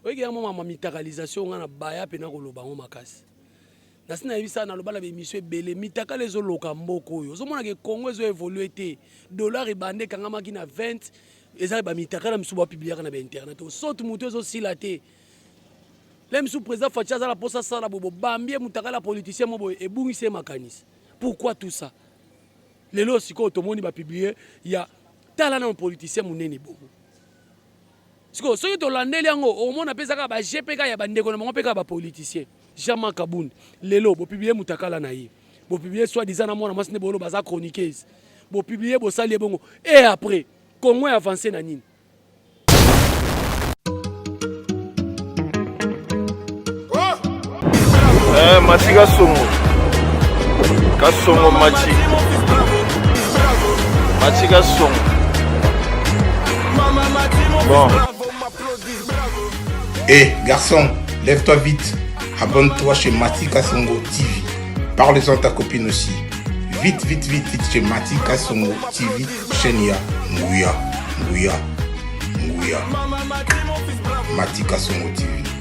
oyeke yango mama mitakalisation nga na baya mpe nakoloba yango makasi nasi nayebisa naloba na baemission ebele mitakala ezoloka mboka oyo ozomonaka ekongo ezo évolue te dollar ebanda ekangamaki na 20 ezali bamitakala misusu bapibliaka na bainternet osoti motu ezosila te le misusu président faci aza na mposa asala boye bobambi ye motakala politicien mo boye ebungisi ye makanisi pourquoi tout ça lelo sikoyo tomoni bapiblie ya tala nano politicien monene bongo Sikoyo soki tolandeli yango okomona mpe eza kaka ba jeux mpe kaka ya bandeko na bango mpe kaka ba politiciens. Jean Marc Kabund lelo bo publier mutakala na ye bo publier soit disant na mwana mwasi nde bolo baza chroniqueuse bo publier bosali ebongo et après Congo ya avance na nini? Eh, mati kasongo kasongo mati mati kasongo bon Eh, garçon, lève-toi vite. Abonne-toi chez Mati Kasongo TV. Parle-en à ta copine aussi. Vite, vite, vite, vite chez Mati Kasongo TV. Chaîne ya Nguya, Nguya, Nguya. Mati Kasongo TV.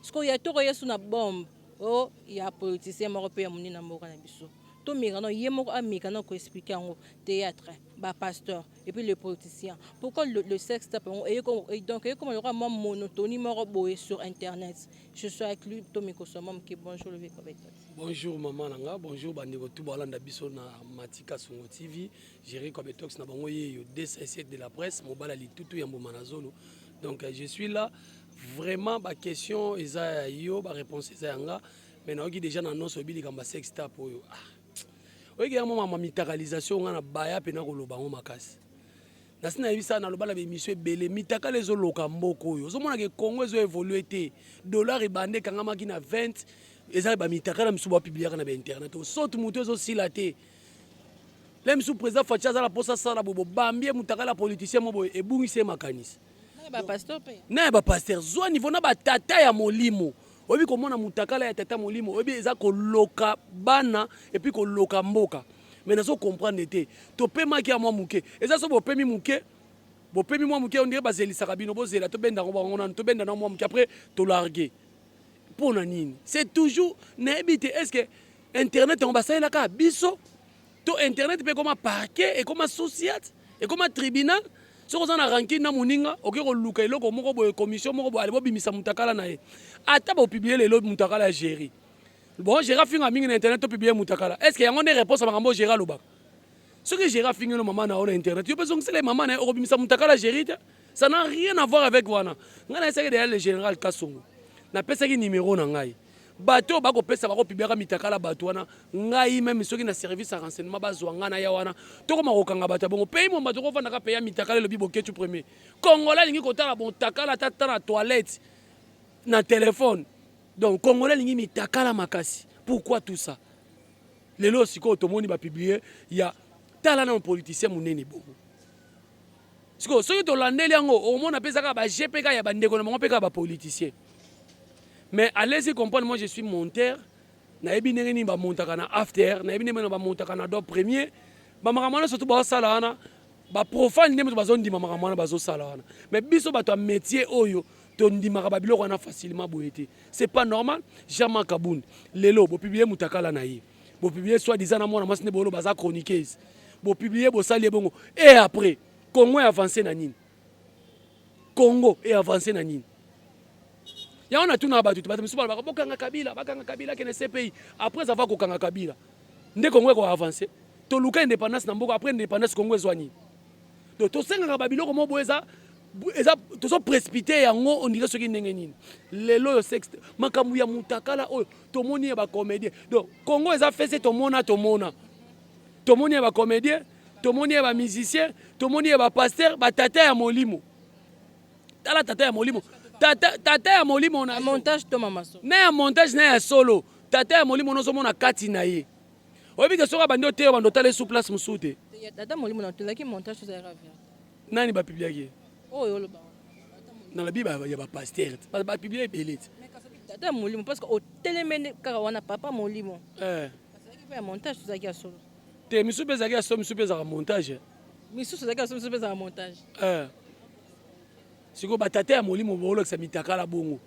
Sikoyo ya toko yesu na bombe oh ya politicien moko pe ya munene na mboka na biso to meka no ye moko ameka na ko expliquer yango theatre ba pasteur et puis le politicien pourquoi le, le sex tape yango eye ko donc eye koma lokola mwa monotonie moko boye sur internet je suis avec lui to mikosa mwa moke bonjour le vieux prophète bonjour maman na nga bonjour ba ndeko tout balanda biso na matika songo tv gérer comme tox na bango yeyo 2 de la presse mobala litutu ya mbuma na zolo donc je suis là Vraiment ba question eza ya yo ba reponse eza ya nga mais nayoki deja na noso oyebi likambo ya sex tap oyo ah. oyeki yango mama mitakalisation nga na baya mpe nakoloba yango makasi nasi nayebisa naloba na baemission ebele mitakala ezoloka mboka oyo ozomonaka ekongo ezo évolue te dollar ebanda ekangamaki na 20 eza bamitakala misusu bapibliaka na bainternet osote motu ezosila te le misu président faci aza na mposa asala boye bobambi ye motakala politicien mo boye ebungisi ye makanisi na ya bapaster zwa nivo na batata ya molimo oyebi komona mutakala ya tata molimo oyebi eza koloka bana epuis koloka mboka me nazo comprendre te topemaki ya mwa moke eza so bopemi moke bopemi mwa moke ondire bazelisaka bino bozela tobenda yango bango nanu tobenda na mwa moke apres tolarge mpo na nini c'est toujours nayebi te est ce que internet yango basalelaka biso To internet pe ekoma parquet, ekoma sociat, ekoma tribunal. Soki oza na rancune na moninga, oke koluka eloko moko boye, commission moko boye, ale bobimisa mutakala na ye. Ata bo publier lelo mutakala ya Jerry. Bon, Jerry afinga mingi na internet, to publier mutakala. Est-ce que yango nde reponse ya makambo oyo Jerry alobaka? Soki Jerry afingi yo na mama na yo na internet, yo pe zongisela ye mama na ye, okobimisa mutakala ya Jerry te? Ça n'a rien à voir avec wana. Ngai nayesaki dejà le general Kasongo. Napesaki numero na ngai. bato oyo bakopesa bakopibliaka mitakala bato wana ngai meme soki na service ya renseignement bazwa ngai naya wana tokoma kokanga bato ya bongo pays momba tokofandaka pays ya mitakala elobi boketu premier congolais alingi kotala bontakala ata ta na toilette na telefone donc congolais alingi mitakala makasi pourquoi tout ça lelo sikoyo tomoni bapiblie ya tala nano politicien monene bongo sikoyo soki tolandeli yango okomona mpe ezaka bagp kaka ya bandeko na bango mpe kaka bapoliticien Mais à l'aise comprendre moi je suis monteur nayebi ndenge nini bamontaka na after nayebi ndenge na bamontaka na do premier bamakambo wana surtout baosala wana baprofane nde moto bazondima makambo wana bazosala wana mais biso bato ya métier oyo tondimaka babiloko wana facilement boye te c'est pas normal jama kabund lelo bopiblie motakala na ye bopiblie soit disant na mwana mwasi nde bolo baza chroniqueuse bopiblie bosali ye bongo e après congo ya avance na nini Congo e avancer na nini? Yango natuna bato te, bato misusu balobaka bokanga Kabila, bakanga Kabila akende CPI. Après avoir kokanga Kabila, nde Congo eko avancer. Toluka independance na mboka, après independance Congo ezwa nini? Donc tosengaka ba biloko moko boye eza eza tozo précipiter yango on dirait soki ndenge nini. Lelo yo sex makambo ya mutakala oyo tomoni ya ba comédien. Donc Congo eza fesse tomona tomona. Tomoni ya ba comédien tomoni ya ba musicien tomoni ya ba pasteur ba tata ya molimo tala tata ya molimo tata, tata ya molimo na montage to mama so na ya montage na ya solo tata ya molimo nozo mona kati na ye oyebi ke soki abandi oteyo bando otala esu place mosusu te tata molimo na tolaki montage to zalaka vert nani ba publiaki ye oyo oh, oloba na la bible ya ba pasteur ba publie ebele te tata ya molimo parce que otelemene kaka wana papa molimo eh. ya montage tozalaki ya solo te misusu mpe ezalaki ya so misusu mpe ezalaka montage eh. misusu ezalaki ya so misusu mpe ezalaka montage eh. sikoyo batata ya molimo baolakisa mitakala bongo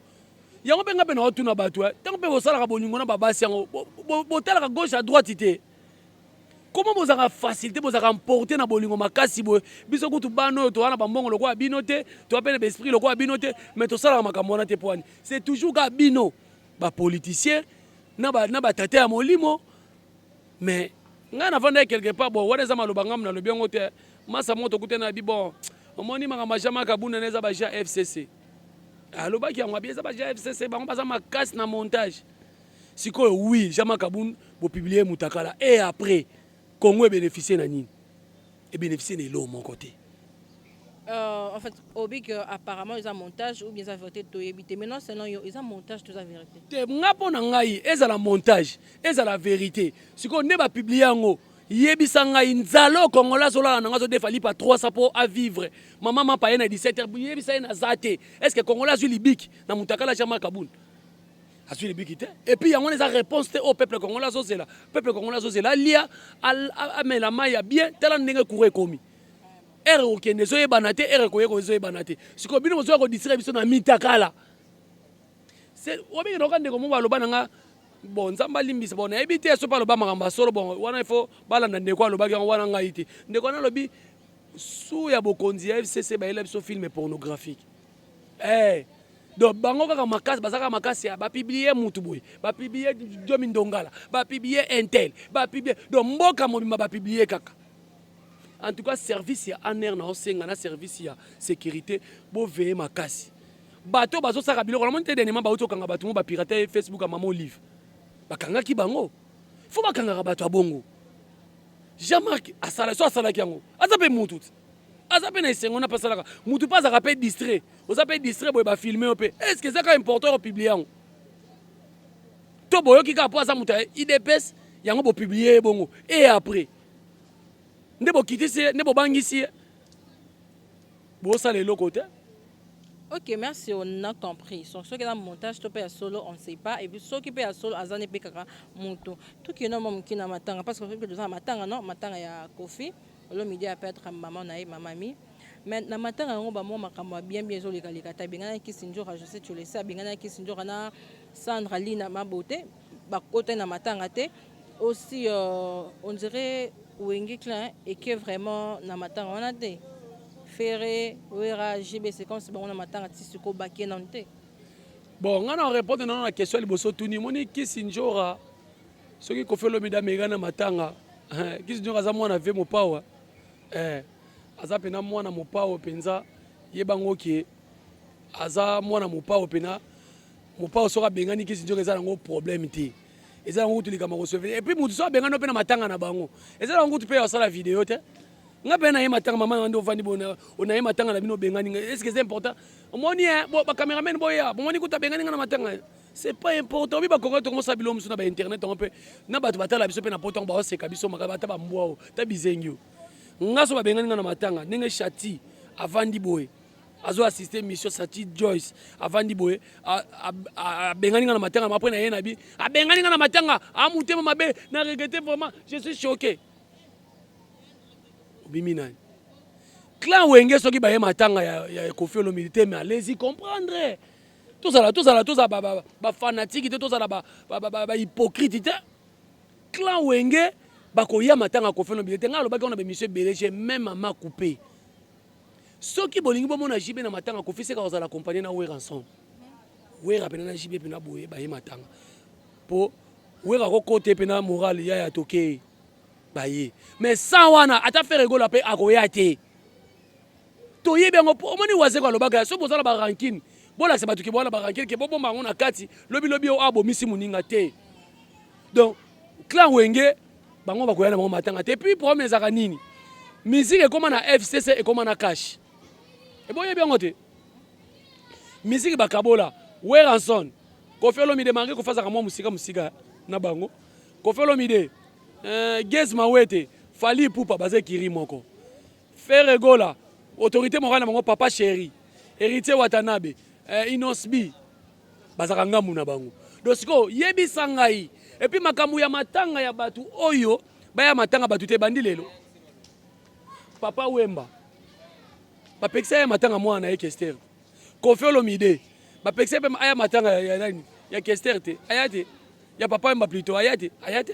yango mpe ngai mpe naotuna bato eh. ntango mpe bosalaka bolingo na babasi yango botalaka gauche à droite te koma bozalaka facilité bozalaka mporte na bolingo makasi boye biso kutu bana oyo toza na bambongo lokola bino te toza mpe na baesprit lokola bino te mais tosalaka makambo wana te mpo wani c'est toujours kaka bino bapoliticien na batata ya molimo Mais ngai na vandaki quelque part bon wana eza maloba ngai na lobi yango te masa moko tokutani na bi bon omoni makambo ma jama kabunda na eza ba ja fcc alobaki yango abi eza ba ja fcc bango baza makasi na montage sikoyo oui jama kabund bopublie mutakala et après congo ebénéficie na nini e beneficier na eloko moko te. Euh, en fait, obi que apparemment ils ont montage ou bien ils ont vérité to yebite. Maintenant selon yo, ils ont montage tout ça vérité. Te nga pona ngai ezala montage, ezala vérité. Siko nde ba publier yango. Yebisa ngai nzalo kongola zola na ngazo defa lipa 300 po a vivre. Maman mapa ye na 17h yebisa ye na zate. Est-ce que kongola zui libiki na mutakala jama kabun? azwi libiki te epuis yango wana eza réponse te oyo oh, peuple congolais azozela peuple congolais azozela alia amela mai ya bien tala ndenge courant ekomi ere kokende ezoyebana te ere koyeka ezoyebana te sikoyo bino bozoya kodistraire biso na mitakala obenge naoka ndeko moko aloba na nga bon nzambe alimbisa bon nayebi te soki aloba makambo ya solo bon wana ifo balanda ndeko alobaki yango wana ngai te ndeko wana alobi su ya bokonzi ya fcc bayela biso filme pornographique Eh, donc bango kaka makasi baza kaka makasi ya bapublie mutu boye bapublie jomi ndongala bapublie intel bapublie donc mboka mobimba bapublie kaka en tout cas service ya aner na osenga na service ya sécurité boveye makasi bato bazosaka biloko namoni te denema bauti okanga bato mo bapirate facebook ya mama olive bakangaki bango fo bakangaka bato ya bongo jean marc asala so asalaki yango aza mpe mutu te aza mpe na esengo na mpe asalaka motu mpe azalaka mpe distrait oza mpe distrait boye bafilme yo mpe estce eza kaka important opiblie yango to boyoki kaka mpo aza moto ya idps yango bopiblie ye bongo e après nde bokitisi ye nde bobangisi ye bosala eloko te ok merci on a compris so soki eza montage to mpe ya solo on sait pas epuis soki mpe ya solo aza nde mpe kaka moto tokende mwa moke na matanga parce que toza na matanga no matanga ya kofi Olomide a perdre maman na ye maman mi mais na matanga yango ba mwa makambo ya bien bien ezoleka leka te abenganaki Kisindjora Jose Tshulese abenganaki Kisindjora na Sandra Lina Mabote bakotani na matanga te aussi euh, on dirait Wenge Klein eke vraiment na matanga wana te Ferre Wera JB Sequence bango na matanga ti siko bakie nanu te bon ngai na repondre nano na question ya liboso tuni moni Kisindjora Soki Koffi Olomide ameka na matanga, eh, Kisi Diongo aza mwana vie mopawa. Eh, aza pena mwana mopawa penza. Yeba ngo ke aza mwana mopawa pena mopawa soki abengani Kisi Diongo eza nango problème te. Eza nango kutu likambo kosove. Et puis mutu soki abengani pe na matanga na bango. Eza nango kutu pe asala video te. Nga pe na ye matanga mama na ndo vandi bona ona ye matanga na bino bengani nga. Est-ce que c'est important? Omoni eh, bo ba cameraman boya. Bomoni kutu abengani nga na matanga. c'est pas important mi bakongo tongo sa bilo musu na ba internet on peut na batu batala biso pe na poto ba oseka biso makaba ata ba mbwa o ta bizengi o ngaso ba bengani na matanga ndenge chati avandi boye azo assister mission Sati Joyce avandi boye abengani nga na matanga après na ye na bi abengani nga na matanga amutema mabe na regrette vraiment je suis choqué obimi nani clan wenge soki baye matanga ya, ya kofi olomide te mais allez-y comprendre tozala tozala tozala ba, ba, ba fanatique te tozala ba, ba, ba, ba, ba hypocrite te clan wenge bakoya matanga kofeno bile te ngai alobaki wana bemisio ebele je meme ama coupe soki bolingi bomona jibe na matanga kofi seka kozala accompagne na wera ensemble wera pena na jibe pena boye baye matanga po wera kokote pena morale ya ya toke baye mais sans wana ata fere gola pe akoya te toyebi yango mpo omoni wazeko alobaka soki boza na barankine bolakisa bato ke boza na barankine ke bobomba yango na kati lobilobi oyo abomisi moninga te donc clan wenge bango bakoya na bango matanga te puis problème ezalaka nini miziki ekóma na fcc ekóma na cash eboyebi yango te miziki bakabola weranson kofi olomide marke kofazaka mwa mosika mosika na bango kofi olomide eh, gez mawete fali pupa baza ekiri moko Ferre Gola autorite morale na bango papa cheri Heritier Watanabe eh, Inosbi bazaka ngambu na bango do sikoyo yebisa ngai epuis makambo ya matanga ya bato oyo baya matanga bato te bandi lelo papa Wemba bapekisa ya matanga mwana na ye Kester Koffi Olomide bapekisa mpe aya matanga ya nani ya Kester te aya te ya papa Wemba plutôt aya te aya te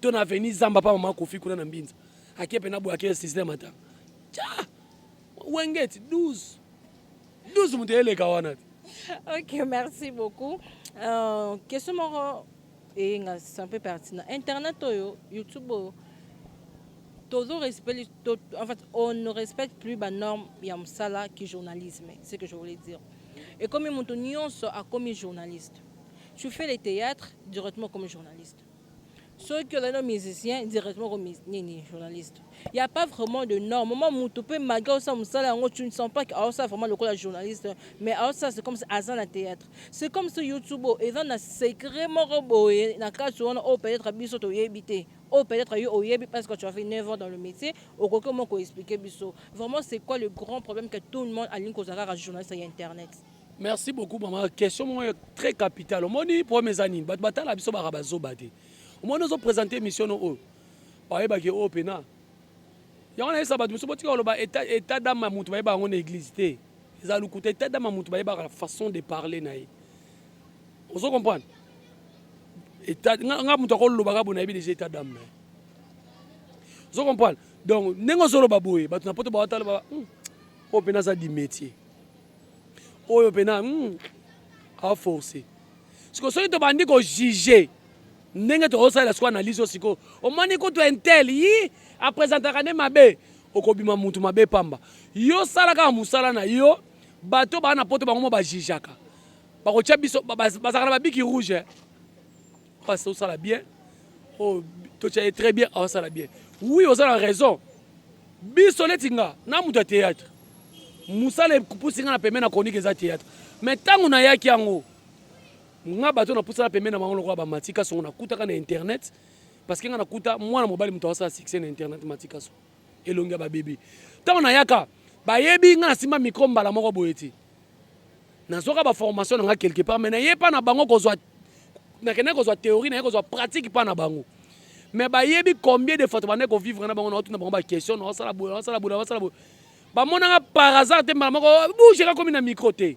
to na avenue zamba pa mama kofi kuna na mbinza ake pena boye ake sisile mata tya wengeti 12 12 moto eleka wana te ok merci beaucoup uh, question moko eyenga c'est un peu pertinent internet oyo youtube oyo tozo respect to, en fait on ne respecte plus ba norme ya mosala ki journalisme ce que je voulais dire ekomi moto nyonso akomi journaliste tu fais les théâtres directement comme journaliste soki ozali no musicien directement ko nini journaliste il y a pas vraiment de norme mama mutu mpe malgré osala mosala yango tu ne sens pas que aosala vraiment lokola journaliste mais aosala c'est comme si aza na théâtre c'est comme si youtube oyo eza na secret moko boye na kati wana oyo peut-être biso toyebi te oyo peut-être yo oyebi parce que tu as fait 9 ans dans le métier okoki omo koexplike biso vraiment c'est quoi le grand problème que tout le monde alingi kozala kaka journaliste ya internet Merci beaucoup maman. Question moko très capitale. Omoni problème eza nini? Bato batala biso baka bazoba te. Omoni ozo présenter émission no oyo. Bayebaki oyo pena. Yango nayebisa bato mosusu botika koloba état d'âme ya moto bayebaka yango na église te. Eza lokuta état d'âme ya moto bayebaka façon de parler na ye. Ozo comprendre? État nga moto akoloba kaka bonayebi déjà état d'âme na ye. Ozo comprendre? Donc ndenge ozoloba boye bato na poto bawatala ba hmm, oyo pena aza di métier. oyo pena mm, a force siko soki tobandi kojuge ndenge tozosalela siko analyse oyo siko omoni kutu intel yi apresentaka nde mabe okobima mutu mabe pamba yo sala kaka mosala na yo bato baa na poto bango mo bajijaka bakotya biso bazalaka na babiki rouge eh. Pasta osala bien oh, totia ye très bien aosala bien oui oza na raison biso neti nga na moto ya théâtre mosala epusi nga na pembe na chronique eza théâtre mais ntango nayaki yango nga bato napusana pembe na bango lokola bamati kasongo nakutaka na internet parce que nga nakuta mwana mobali moto asala succès na internet mati kasongo elongi ya ba bebe ntango nayaka bayebi nga nasimba micro mbala moko boye ti nazwaka baformation na nga quelque part mai naye mpa na bango kozwa nakendaki kozwa théorie naye kozwa pratique mpa na bango mais bayebi combien de fois tobandaki kovivre na bango naotuna bango baquestion naosala boye naosala boye naosala boye bamonaka par hasard te mbala moko oh, bougeka komi na micro te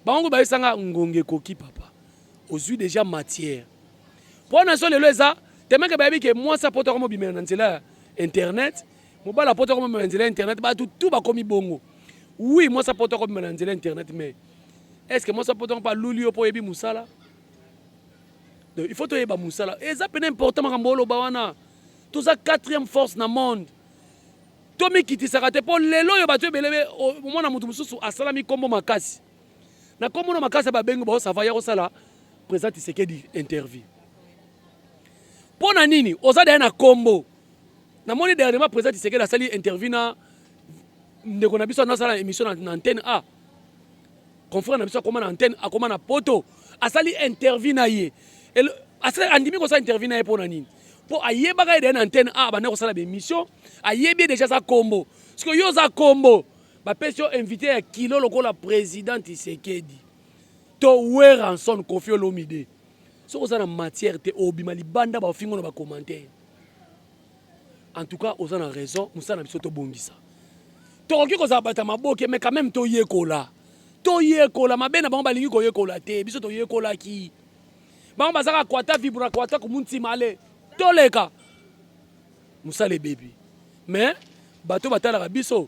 bango bayebisanga ngonga ekoki papa ozwi deja matière Mpo wana so lelo eza temeke bayebi ke mwasi apoto akomi obimela na nzela ya internet mobali apoto akomi obimela na nzela ya internet bato tu bakomi bongo wi mwasi apoto akomi obimela na nzela ya internet mais est ce que mwasi apoto mpe aluli yo mpo oyebi mosala donc il faut toyeba mosala eza mpena important makambo oloba wana toza quatrième force na monde tomikitisaka te mpo lelo oyo bato ebelebe omona moto mosusu asalami nkombo makasi na kombo na makasi ba bengi ba sava ya kosala president Tshisekedi interview mpo na nini oza daya na kombo namoni dernièrement president Tshisekedi asali interview na ndeko na biso anasala émission na, na antenne a confrère na biso akoma na antenne akoma na poto asali interview na ye andimi kosala interview na ye mpo na nini mpo ayebaka ye deya na antenne a abandaki kosala baémission ayebi ye deja aza kombo sikoyo yo oza kombo Ba pesi yo invite ya kilo lokola president Tshisekedi to Werrason Koffi Olomide. Soki oza na matière te obima libanda ba fingo na ba commentaires. En tout cas oza na raison musala na biso to bongisa. Tokoki kozala bata maboke mais quand même to yekola. To yekola mabe na bango balingi ko yekola te biso to yekolaki. Bango bazaka kwata vibra kwata kumuntima ale toleka. Musala ebebi. Mais bato batalaka biso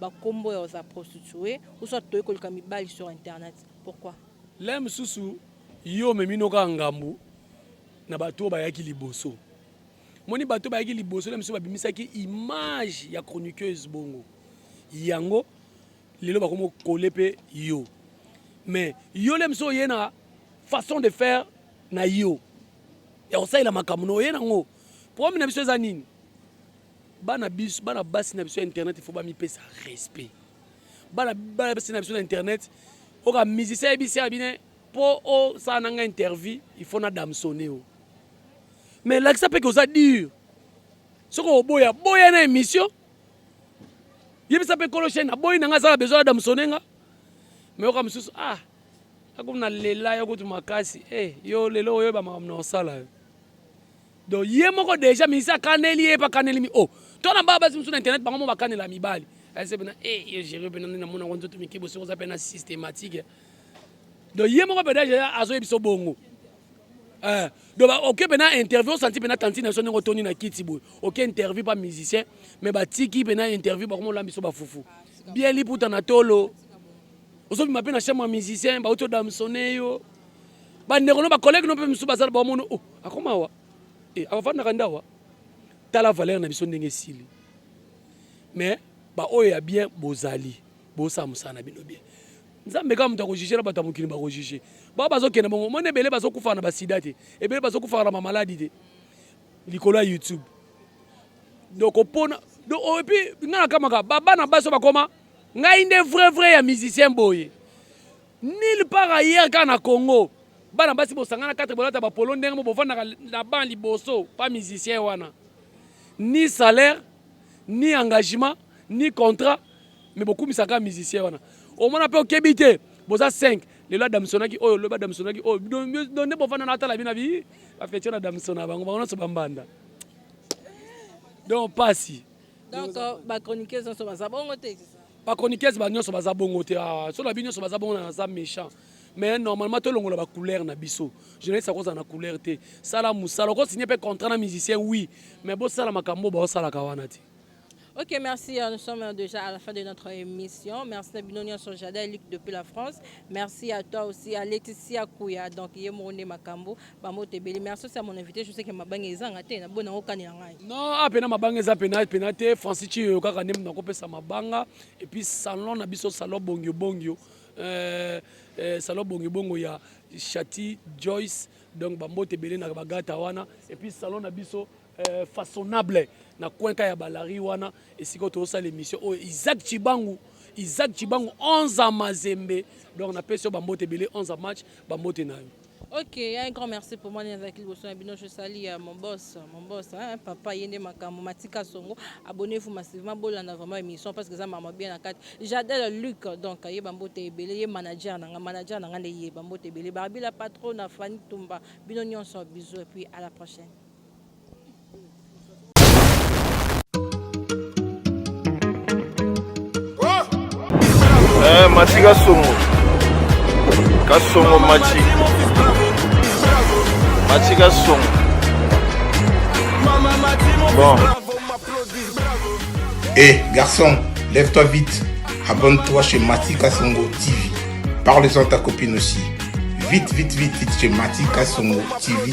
ba kombo ya za prostituee ou soit toye koluka mibali sur internet pourquoi le mosusu yo omemino kaka ngambu na bato oyo bayaki liboso moni bato bayaki liboso le mosusu babimisaki image ya chroniqueuse bongo yango lelo bakomi okole mpe yo mais yo le mosusu oye na façon de faire na yo ya kosalela makambo na oye nango problème na biso eza nini Bana biso, bana basi na biso ya internet il faut ba mipesa respect. Bana bana basi na biso na internet, oka musicien yebisi ya bine po o sala nanga interview, il faut na damsone o. Mais lakisa pe que oza dur. Soki oboya, boya na émission. Yebisa pe kolo chaîne, aboyi nanga azala besoin ya damsone nga. Mais oka mususu ah akomi na lela ya kutu makasi eh yo lelo oyo ba makambo na osala yo Donc ye moko deja ministre akaneli ye pa kaneli mi oh to na ba basi musu na internet bango mo bakanela mibali ese eh, pena eh yo jere pena nde na mona ngo nzoto mike bosi oza pena systématique donc ye moko pena deja azo yebiso bongo eh donc ba oke pena interview santi pena tantine so ndenge toni na kiti boye oke interview pa musicien mais batiki pena interview bakomo lambiso ba fufu bien liputa na tolo ozobima mpe na chambre ya musicien bauti odamsone yo bandeko no bacollege no mpe mosusu bazala baomono o oh, akoma awa eh, avandaka nde awa tala valeur na biso ndenge esili mais baoyo ya bien bozali bosala mosala na bino bien nzambe kaka moto akojugela bato ya mokili bakojuge bao bazokende bongo moni ebele bazokufaka na basida te ebele bazokufaka na bamaladi te likolo ya youtube donc opona donc oyebi oh, nga nakamaka babana basi bakoma Ngai nde vrai vrai ya musicien boye. Nil par ailleurs kaka na Congo. Bana basi bosangana 4 bolata ba polo ndenge mo bovandaka na ban liboso pa musicien wana. Ni salaire, ni engagement, ni contrat mais bokumisaka musicien wana. Omona pe okebi te. Boza 5. Lelo adamsonaki oyo, lobi adamsonaki oyo. Donc nde bovanda na atala bina bi ba fecha na damsona bango bango na so bambanda. Donc pasi. Donc euh, ba chroniqueuse nso baza bongo te. Ba chroniqueuse ba nyonso baza bongo te. Ah, so na bi nyonso baza bongo na za méchant. Mais normalement to longola ba couleur na biso. Journaliste akoza na couleur te. Sala musala ko signer pe contrat na musicien oui, mais bo sala makambo ba sala kawana te. Ok, merci. Euh, nous sommes euh, déjà à la fin de notre émission. Merci à Binonia Sojada, Luc depuis la France. Merci à toi aussi, à Laetitia Kouya, donc Yemone Makambo, Ba mbote ebele mais asosi ya mon invité je sais que mabanga ezanga te na bona okani na ngai. Non, ah pena mabanga eza pena pena te Francis Chiyo kaka nde mutu nakopesa mabanga et puis salon na biso salon bongio bongio euh, euh, salon bongio bongo ya Chati Joyce donc ba mbote ebele na bagata wana et puis salon na biso euh, façonnable na cuenca ya balari wana esika oyo tozosala émission oyo isaac cibangu isaac cibangu 11 a mazembe donc napesi yo bambote ebele 11 a match bambote na yo Ok, un grand merci pour moi. Nazaki liboso na bino, je sali ya mon boss, mon boss, hein, papa ye nde makambo matika songo. Abonnez-vous massivement, bolanda vraiment émission parce que ça m'a bien na kati. J'adore Luc, donc ye bambote ebele, ye manager nanga, manager nanga nde ye bambote ebele. Barbie la patronne, Fanny Tumba, bino nyonso bisous et puis à la prochaine. Eh, mati kasongo kasongo mati mati kasongo bon Eh, garçon, lève-toi vite. Abonne-toi chez Mati Kasongo TV. Parle-en à ta copine aussi. Vite, vite, vite, vite chez Mati Kasongo TV.